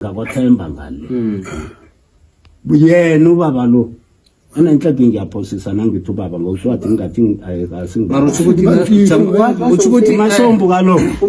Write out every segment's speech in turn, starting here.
ngakwathemba ngale hmm. yena ubaba lo ananhladi ngiyaphosisa nangithi ubaba ngoswathi ngingathi asingimasombu kalokho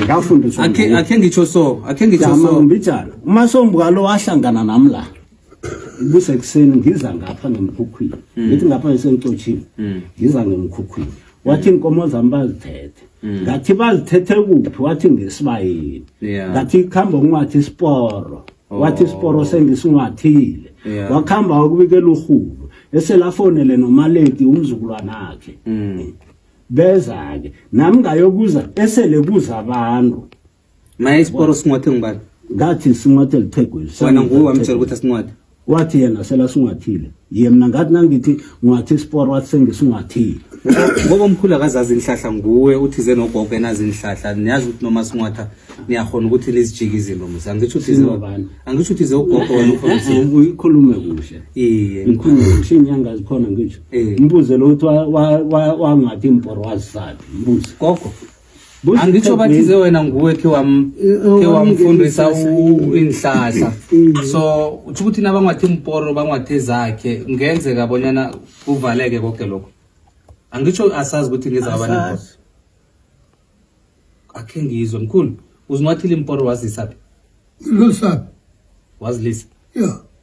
ngafundiswa akhe ngitsho so akhe ngitsho so umasombu kalo wahlangana nami la kusekuseni ngiza ngapha ngemkhukhwini hmm. ngithi ngapha ngisengicotshini hmm. ngiza ngemkhukhwini wathi inkomo zami bazithethe hmm. ngathi bazithethe kuphi wathi ngesibayeni ngathi kuhamba ungathi isiporo oh. wathi isiporo sengisingathile wakuhamba wakubikela urhulu eselafonele nomaleti umzukulwana akhe beza-ke nami ngayokuza esele kuza abantu Mayes poro sinwathe ngibani? Ngathi sinwathe lithegwe. Wena nguwe wamtshela ukuthi asinwathe. Wathi yena sela sinwathile. Ye mina ngathi nangithi ngwathi isiporo wathi sengisinwathile. Ngoba umkhulu akazazi inhlahla nguwe uthi ze nogogo enazi inhlahla niyazi ukuthi noma sinwatha niyakhona ukuthi nizijike izinto musa. Angisho ukuthi ze ngubani? Angisho ukuthi ze ugogo wena ukhona. Eh, eh, eh, uyikhulume kuhle. Iye. Ngikhulume kuhle inyanga zikhona ngisho. Mbuze lo uthi wangathi imporo wazifaphi. Mbuze. Gogo. angitsho bathi ze wena nguwe khe wamfundisa iinhlahla mm. so utsho ukuthi nabangwathi mporo bangwathi zakhe ngenzeka bonyana kuvaleke koke lokho angitsho asazi ukuthi ngizabanimporo akhe ngizwe mkhulu uzinwathile imporo wazisaphi losaphi wazilisa yeah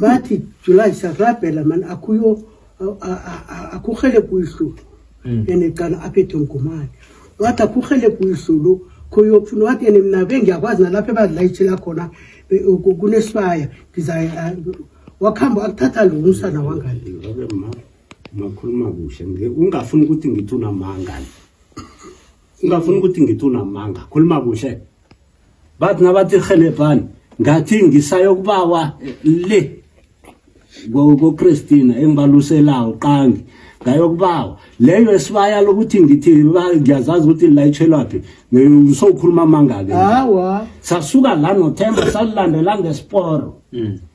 bathi july sarabhela mani akuyo akurhele kuyihlu hmm. ene cala aphethe mgumane wathi akurhele kuyihlu lo khoyokufuna wathi ene mna bengiyakwazi nalapho ebazilayitshela khona kunesibaya ngiza wakuhamba akuthatha lo umsana wangani makhuluma kuhle ungafuni ukuthi ngithi unamangani ungafuni ukuthi ngithi unamanga khuluma kuhle bathi nabathi rhelebhani ngathi ngisayokubawa le kokristina engibaluselawo qangi ngayokubawa leyo esibaya lokuthi ngithi ngiyazazi ukuthi lilayitshelwaphi ngisokhuluma amangake sasuka la nothemba salilandela ngesporo mm.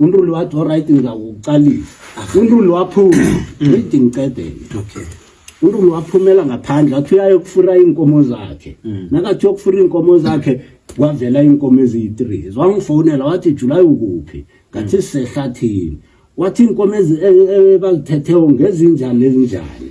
unruli wathi olright ngizakuqalisa unruli waphuma mm. idi ngicedele unruli waphumela ngaphandle athi uyayokufura iinkomo zakhe mm. nakathi uyokufura iinkomo zakhe kwavela iinkomo eziyi-three zwangifonela wathi julayi ukuphi ngathi mm. sisehlathini wathi iinkomo ebazithethe e, e, ngezinjani ezinjani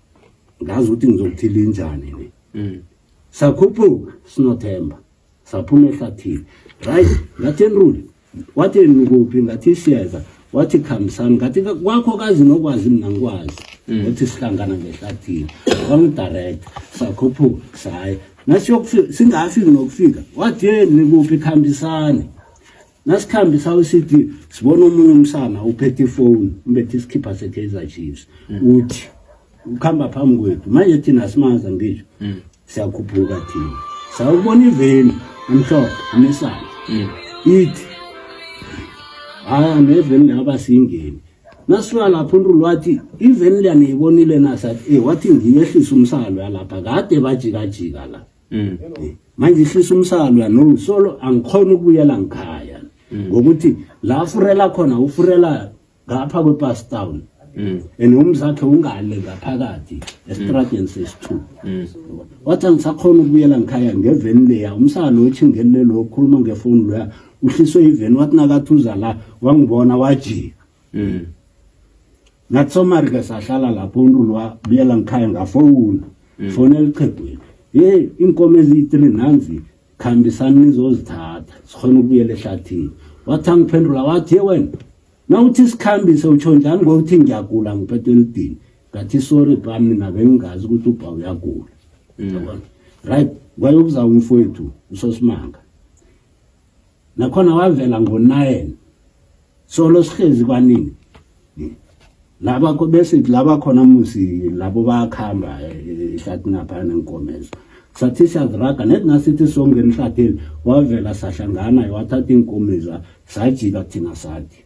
ngazi ukuthi ngizokuthiela injani ni mm. sakhuphuka sinothemba saphuma ehlathini right ngathi enruli wathi nikuphi ngathi siyeza wathi khambisani ngathi kwakho kazi nokwazi mina ngikwazi mm. wathi sihlangana ngehlathini wangidirekta sakhuphuka saye nasiyokufika singafiki nokufika wathi ye nikuphi khambisani nasikhambisa uCD sibona omunye umsana uphethe ifoni umbethe isikhipha seKaizer Chiefs mm. uthi ukhamba phambi kwethu manje thina simaza ngisho mm. siyakhuphuka thina sawubona iveni amhlophe unesana mm. ithi haya ah, neveni laba singeni nasuka lapho untulu wathi iveni liyaniyibonile nasathi e eh, wathi ngiyehlisa umsalo yalapha kade bajikajika la mm. manje ihlisa umsalwa no solo angikhona ukubuyela ngikhaya mm. ngokuthi la furela khona ufurela ngapha kwepass town mm. and umzakhe ungale ngaphakathi esitradeni sesi-two wathi angisakhona ukubuyela ngikhaya ngeveni leya umsala lo otshingele lo okhuluma ngefoni loya uhliswe iveni wathi nakathuza la wangibona wajika ngathi somarike sahlala lapho umuntu lwa buyela ngikhaya ngafowuna mm. fone elichegwini yeyi iinkomo eziyi-three nanzi khambisani nizozithatha sikhona ukubuyela ehlathini wathi angiphendula wathi ye wena na uthi sikhambise utsho njani ngokuthi ngiyagula ngiphethe elidini ngathi sorry ba mina bengingazi ukuthi ubha uyagula mm. right kwayokuzawumfowethu usosimanga nakhona wavela ngo-nine solo sihlezi kwanini laba besithi laba khona musi labo bayakuhamba eh, ihlathini aphaya nenkomezo sathi siyaziraga net nasithi songena ihlathini wavela sahlangana wathatha iinkomiza sajika thina sathi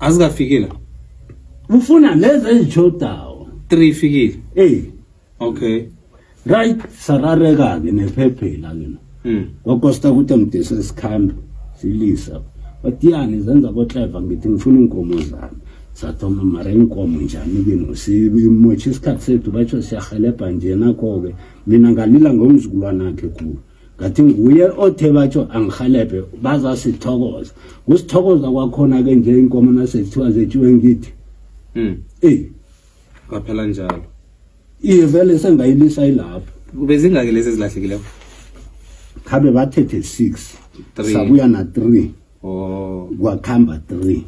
azikafikile ngifuna lezi ezitshodawo three ifikile eyi okay right sarareka-ke nephephela ke no mm. kwakosta ukuthi ngidese sikhambe silisa batiyani zenza kotleva ngithi ngifuna iinkomo zami sathoma mara iinkomo njani kino simotshe isikhathi sethu batsho siyahelebha nje nakho-ke mina ngalila ngomzukulwanakhe khulu ngathi nguye othe batsho angihelebhe bazasithokoza kusithokoza kwakhona-ke nje inkomo nasekuthiwa zetshiwe ngithi hmm. eyi kwaphela njalo iye vele sengayilisa ilapho kube zingaki lezi ezilahlekileko khabe bathethe six sabuya na-three oh. kwakuhamba three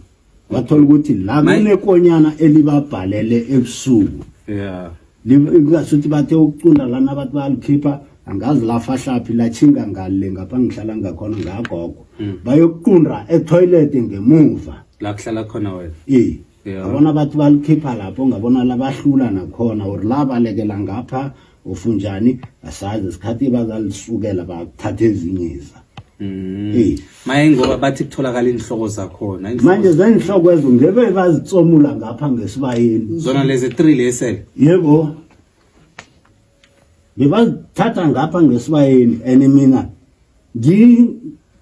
wathola ukuthi la kunekonyana elibabhalele ebusuku yeah ingasuthi bathe ukucunda lana abantu balikhipha angazi lafahlaphi latshinga ngale ngapha ngihlala ngakhona ngagogo mm. bayokuqunda etoilet ngemuva la kuhlala khona wena ee ngabona abantu balikhipha lapho ngabona labahlula nakhona or labalekela ngapha ufunjani asazi sikhathi bazalisukela bathatha ezinye iza Mm. Eh. Maye ngoba bathi kutholakala inhloko zakhona. Manje zenhloko ezo ngebe bazitsomula ngapha ngesibayeni. Zona lezi 3 lesele. Yebo. Bebazithatha ngapha ngesibayeni ene mina ngi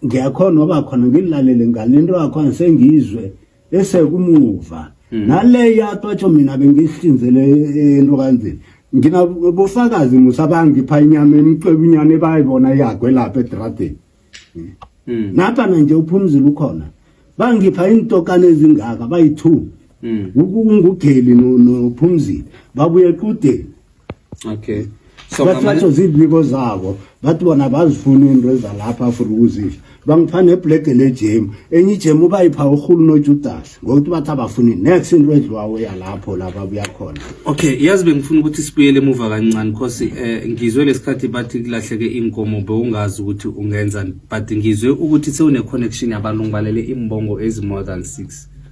ngiyakhona oba khona ngilalele ngalento yakho sengizwe bese kumuva hmm. nale yatwa tsho mina bengisihlinzele eh, into kanzini nginabofakazi musa bangipha inyama emicwebu inyana ebayibona yagwe lapha edradeni hmm. hmm. naphana nje uphumzile ukhona bangipha iintokana ezingaka bayi-two ngugeli nophumzile babuye equdeni okay so bathi bathi zibiko zabo bathi bona bazifuna into ezalapha afuna ukuzidla bangipha nebhlege lejem enye ijem ubayipha urhulu nojudas ngokuthi bathi abafuni next into edliwawo yalapho lapha buya khona okay yazi bengifuna ukuthi sibuyele emuva kancane because um eh, ngizwe lesikhathi bathi kulahleke iinkomo bewungazi ukuthi ungenzani but ngizwe ukuthi sewune-connection yabantu ngibalele iimbongo ezi-more than six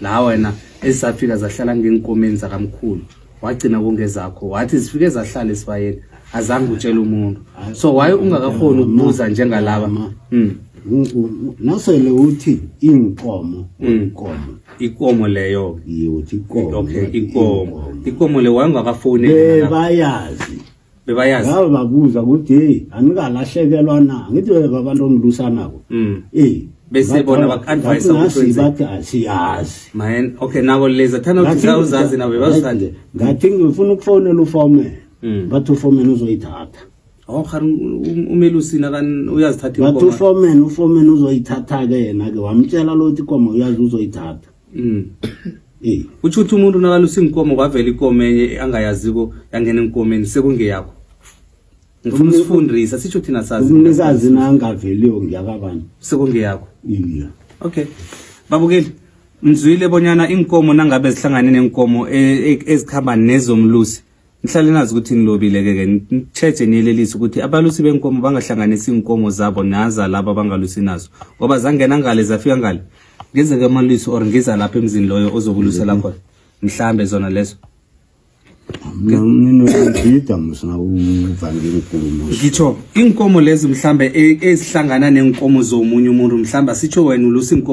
la wena ezisafika zahlala ngeenkomeni zakamkhulu wagcina kongezakho wathi zifike zahlala esibayeni azange utshele umuntu so waye ungakakhoni ukubuza njengalaba mm. nasele uthi iinkomo inkomo mm. ikomo leyo-ke uthi ikomo okay ikomo ikomo le wayengakafowuneli bebayazi bebayazi ngabe babuza ukuthi hey anikalahlekelwa na ngithi babantu ongilusanako mm. eh bese bona bak-advise ukuthi bathi asiyazi man okay nabo leza thana ukuthi zawuzazi nabo bebazithande ngathi ngifuna ukufonela ufomela mm. bathi ufomela uzoyithatha Oh khari um, umelusi nakan uyazithatha inkomo. Bathi ufomen ufomen uzoyithatha ke yena ke wamtshela lo ukuthi inkomo uyazi uzoyithatha. mm. utsho ukuthi umuntu nakalusa iinkomo kwavela ikomo enye angayaziko yangena enkomeni sekungeyakho ngifuna usifundisa sitsho thina sazi umnikazi nangaveliyo ngiyakabani sekungeyakho iya okay babukeli mzwile bonyana iinkomo nangabe zihlangane neenkomo e, e, ezikhamba nezomlusi nihlale nazi ukuthi ngilobile-ke ke nitshetshe niyelelise ukuthi abalusi benkomo bangahlanganisi iinkomo zabo naza laba bangalusi nazo ngoba zangena ngale zafika ngale ngizeke amalusi or ngiza lapha emzini loyo ozokulusela mhm. khona mhlambe zona lezo ngitsho iinkomo lezo mhlambe e, ezihlangana neenkomo zomunye umuntu mhlambe asitsho wena ulusa iinkomo